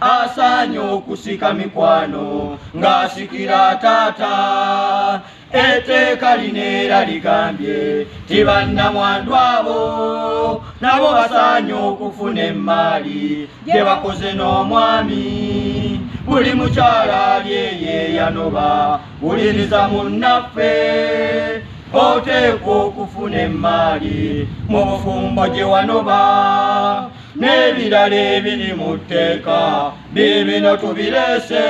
asaanye okusika mikwano ng'asikira taata eteeka lino era ligambye ti bannamwandu abo nabo basaanye okufuna emmaali gye bakoze n'omwami buli mukyala ali eyeyanoba wuliriza munnaffe oteekwa okufuna emmaali mu bufumbo gye wanoba n'ebirala ebiri mu tteeka biibino tubireese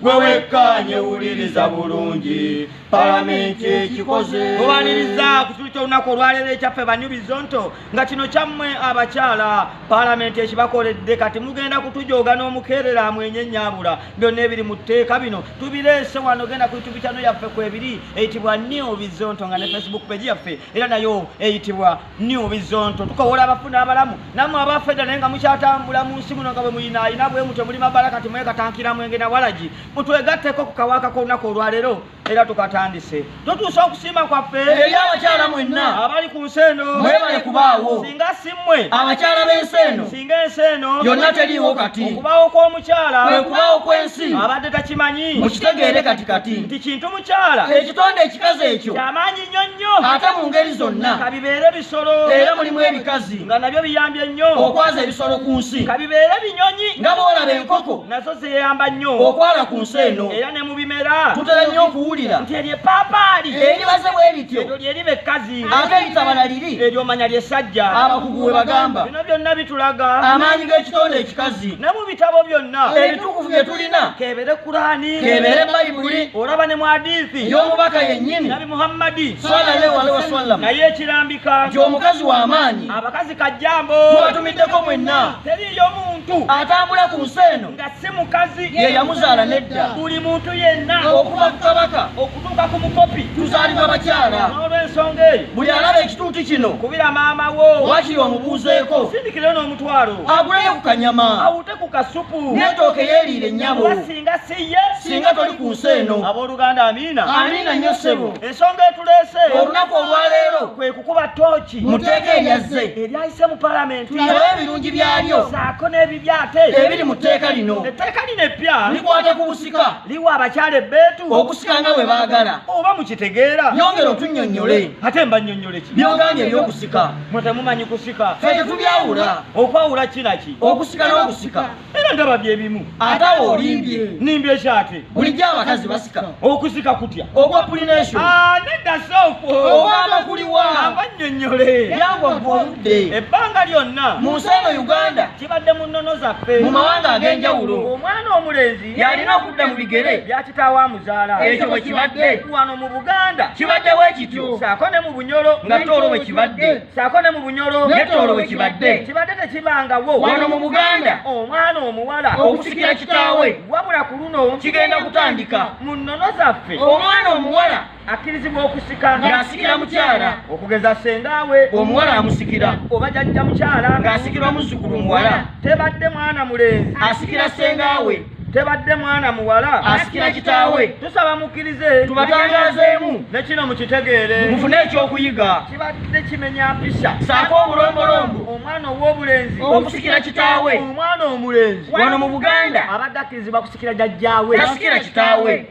gwe wekkaanye wuliriza bulungi palamenti ekikoze owaniriza ku kitulo ky'olunaku olwaleero ekyaffe banyubizonto nga kino kyammwe abakyala palamenti ekibakoledde kati mugenda kutujooga n'omukeerera amwenye nyabula byonna ebiri mu tteeka bino tubireese wano genda ku yitubi kyano yaffe kwebiri eyitibwa neo bizonto nga ne facebook pegi yaffe era nayo eyitibwa new bizonto tukowola abafuna abalamu namwe abafeda naye nga mukyatambula mu nsi muno nga bwe muyina ayina bwe mutwe muli mabala kati mwekatankira mwenge na walagi mutwegatteko ku kawaaka k'olunaku olwaleero era tukatandise totuusa okusiima kwaffe eri abakyala mwenna abali ku nsi eno mwebale kubaawo singa si mmwe abakyala b'ensi eno singa ensi eno yonna teriiwo kati okubaawo kw'omukyala kwe kubaawo kw'ensi abadde takimanyi mukitegeere kati kati nti kintu mukyala ekitonde ekikazi ekyo kyamaanyi nnyo nnyo ate mu ngeri zonna ka bibeere bisolo era mulimu ebikazi nga nabyo biyambye nnyo okwaza ebisolo ku nsi ka bibeere binyonyi nga boolaba enkoko nazo zeyamba nnyo okwala ku nsi eno era ne mu bimera tutera nnyo okuwulira nti eryo epaapaali eribaze bwe lityo eryo lyeriba ekkazi ate litabala liri eryo omanya lyesajja abakugu we bagamba bino byonna bitulaga amaanyi g'ekitonde ekikazi ebitabo byonna ebitukuvu bye tulina kebere kurani kebere bayibuli olaba ne mwadithi y'omubaka yennyini nabi muhammadi sallallahu alaihi wasallam naye ekirambika nti omukazi w'amaanyi abakazi kajjambo tubatumiddeko mwenna teriyo muntu atambula ku nsi eno nga si mukazi ye yamuzaala nedda buli muntu yenna okuva ku kabaka kutuuka ku mukopi tuzaalibwa bakyala n'olw'ensonga eyo buli alaba ekituuti kino kubira maama wo wakiri omubuuzeeko sindikire n'omutwalo aguleyo ku kanyama awute ku kasupu n'etooke yeeriire nnyabo singa si ye singa toli ku nsi eno abooluganda amiina amiina nnyo ssebo ensonga etuleese olunaku olwaleero kwe kukuba tooki mu tteeka eryazze eryayise mu palamenti aba ebirungi byalyo saako n'ebibyaate ebiri mu tteeka lino etteeka lino eppya likwata ku busika liwa abakyala ebbeetu okusika nga bwe baagala oba mukitegeera yongera otunnyonnyole ate mba nnyonnyole ki byogambye ebyokusika mwe temumanyi kusika fe tetubyawula okwawula kinaki okusika n'okusika era ndaba bye bimu ate awo olimbye nimbye ekyate bulijjo abakazi basika okusika kutya ogwa pulination ah, nedda soofu ogamba kuliwa aba nnyonnyole byagwa gwa obudde ebbanga lyonna mu nsi eno uganda zibadde mu nnono zaffe mu mawanga ag'enjawulo omwana omulenzi yalina okudda mu bigere bya kitaawo amuzaala ekyo bwe kibadde wano mu buganda kibadde bwe kityo saako ne mu bunyolo nga toolo bwe kibadde saako ne mu bunyolo ne toolo bwe kibadde kibadde tekibangawo wano mu buganda omwana omuwala okusikira kitaawe wabula ku luno kigenda kutandika mu nnono zaffe omwana omuwala akkirizibwa okusika ng'asikira mukyala okugeza sengaawe omuwala amusikira oba jajja mukyala ng'asikirwa muzzukulu muwala tebadde mwana mulenzi asikira sengaawe tebadde mwana muwala asikira kitaawe tusaba mukkirize tubatangazeemu ne kino mukitegeere mufune ekyokuyiga kibadde kimenya mpisa saako obulombolombo omwana ow'obulenzi okusikira kitaawe omwana omulenzi wano mu buganda abadde akkirizibwa kusikira jajjaawe tasikira kitaawe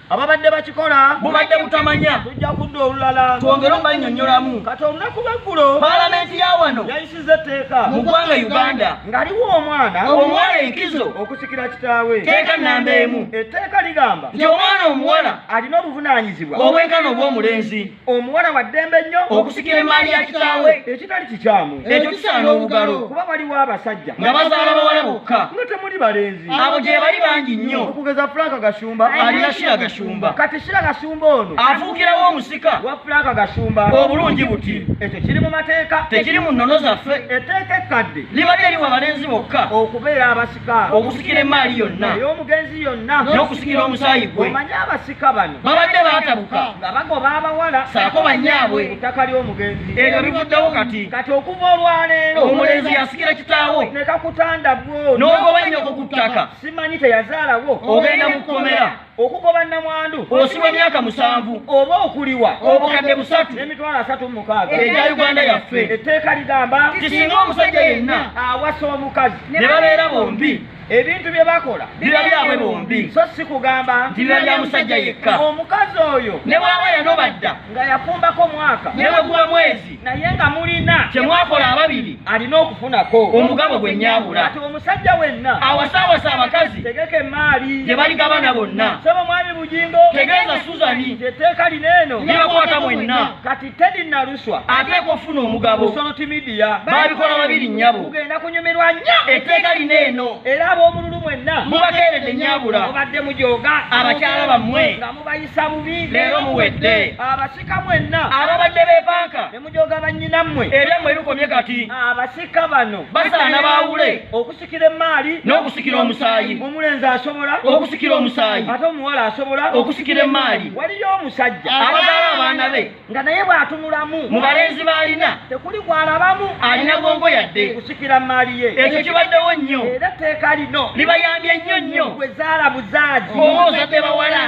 ababadde bakikola bubadde butamanya tujja kudda olulala twongere obannyonnyolamu kati olunaku lweggulo palamenti ya wano yayisiza etteeka mu ggwanga uganda ngaliwo omwana omuwala enkizo okusikira kitaawe teeka nnamba emu etteeka ligamba nti omwana omuwala alina obuvunaanyizibwa obwenkana obw'omulenzi omuwala wa ddembe nnyo okusikira emaali ya kitaawe ekitali kikyamu ekyo kisaana obugalo kuba waliwo abasajja nga bazaala bawala bokka nga temuli balenzi abo gye bali bangi nnyo okugeza fulaaka gashumba alina shira gashumba kati shira gashumba ono afuukirawo omusika wa fulaaka gashumba obulungi buti ekyo kiri mu mateeka tekiri mu nnono zaffe etteeka ekkadde libadde liwa balenzi bokka okubeera abasi okusikira emaali yonna ey'omugenzi yonna n'okusikira omusaayi gwe omanyi abasika bano babadde baatabuka nga bagoba abawala saako banyaabwe ettaka ly'omugenzi ebyo bivuddewo kati kati okuva olwaleero omulenzi yasikira kitaawo nekakutanda bwo n'ogoba nnyoko ku ttaka simanyi teyazaalawo ogenda mu kkomera okugoba namwandu osibwa emyaka musanvu oba okuliwa obukadde busatu n'emitwalo asatu mu mukaaga egya uganda yaffe etteeka ligamba kisinga omusajja yenna awasa omukazi ne babeera bombi ebintu bye bakola biba byabwe bombi so si kugamba nti biba bya musajja yekka omukazi oyo ne bwaba yanobadda nga yafumbako mwaka ne bweguba mwezi naye nga mulina kyemwakola ababiri alina okufunako omugabo gwe nyabula ati omusajja wenna awasaawasa abakazi tegeka emaali gye baligabana bonna saba omwami bugingo tegeeza suzani etteeka lino eno libakwata mwenna kati tedi naluswa ateeka okufuna omugabo soloti midiya babikola babiri nyabo kugenda kunyumirwa nnyo etteeka lino eno era ab'omululu mwenna mubakeeredde nyabula mubadde mujooga abakyala bammwe nga mubayisa bubi leero muwedde Abasika mwenna ababadde beepanka ne mujooga bannyinammwe ebyammwe bikomye kati. Abasika bano basaana baawule okusikira emmaali n'okusikira omusaayi. Omulenzi asobola okusikira omusaayi ate omuwala asobola okusikira emmaali. Waliyo omusajja abazaala abaana be nga naye bw'atunulamu mu balenzi b'alina tekuli gw'alabamu alina gongo yadde okusikira mmaali ye. Ekyo kibaddewo nnyo era etteeka lino libayambye nnyo nnyo. Gwe zaala buzaazi. Oba ozadde bawala.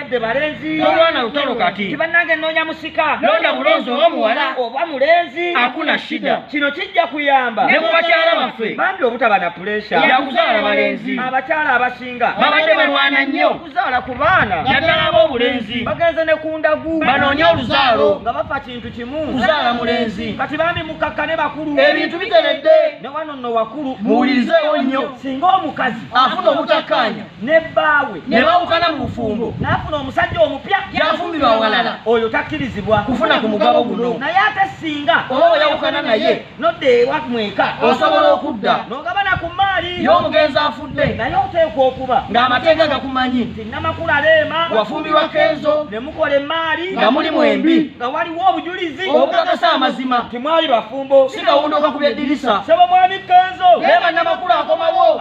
de balenzi tolwana lutalo kati tibanange nonya musika londa bulonzi omuwala oba mulenzi akuna shida kino kijja kuyamba ne kubakyala baffe bambi obutaba na pulesha ya kuzaala balenzi abakyala abasinga babadde balwana nnyo okuzaala ku baana yaddala ab'obulenzi bagenze ne ku ndagu banoonye oluzaalo nga bafa kintu kimu kuzaala mulenzi kati bambi mukakka ne bakulu ebintu biteredde ne wano nno wakulu muwulirizeewo nnyo singa omukazi afuna obutakkaanya ne bbaawe ne bawukana mu bufumbo n'afuna omusajja omupya yafumbirwa awalala oyo takkirizibwa kufuna ku mugabo guno naye ate singa oba we yawukana naye nodda ewa mweka osobola okudda n'ogabana ku mmaali y'omugenzi afudde naye oteekwa okuba ng'amateeka gakumanyi nti namakula leema wafumbirwa kenzo ne mukola emmaali nga muli mwembi nga waliwo obujulizi obukakasa amazima timwali bafumbo si kawundo kakubya eddirisa sebo mwami kenzo leema namakula akomawo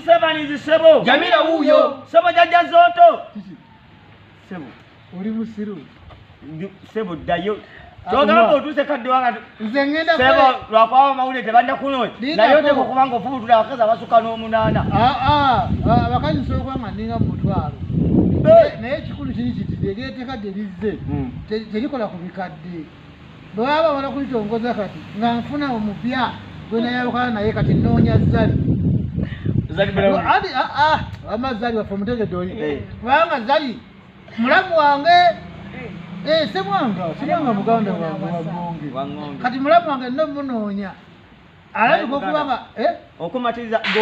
Sebanizi sebo. Jamila huyo. Sebo jaja zoto. Sebo. Uli musiru. Sebo dayo. Togamba otuse kadde wanga. Nze ngenda kwa. Sebo lwakwawa mawule tebanda kuno. Na yote ko kubanga ofubu tula akaza basuka no munana. Ah ah. ah Bakazi solo kwa maninga mutwalo. Eh. Naye kikulu kiri kiti degete kadde lizze. Hmm. Terikola kubikadde. bwe baba babona kulitongoza kati nga nfuna omupya gwe nayawukana naye kati nnoonya zali wama zali waffe omutegedde oli eh. kubanga zali mulamu wange eh. Eh, semwanga semwanga muganda wange wagonge kati mulamu wange nno munoonya alabika okubanga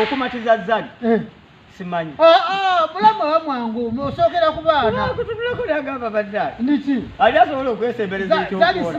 okumatiriza zali simanyi ah, ah, bulamu aba mwangu osookera ku baana kutunulako nagamba baddaali niki ali asobola okwesembereza ekyokukola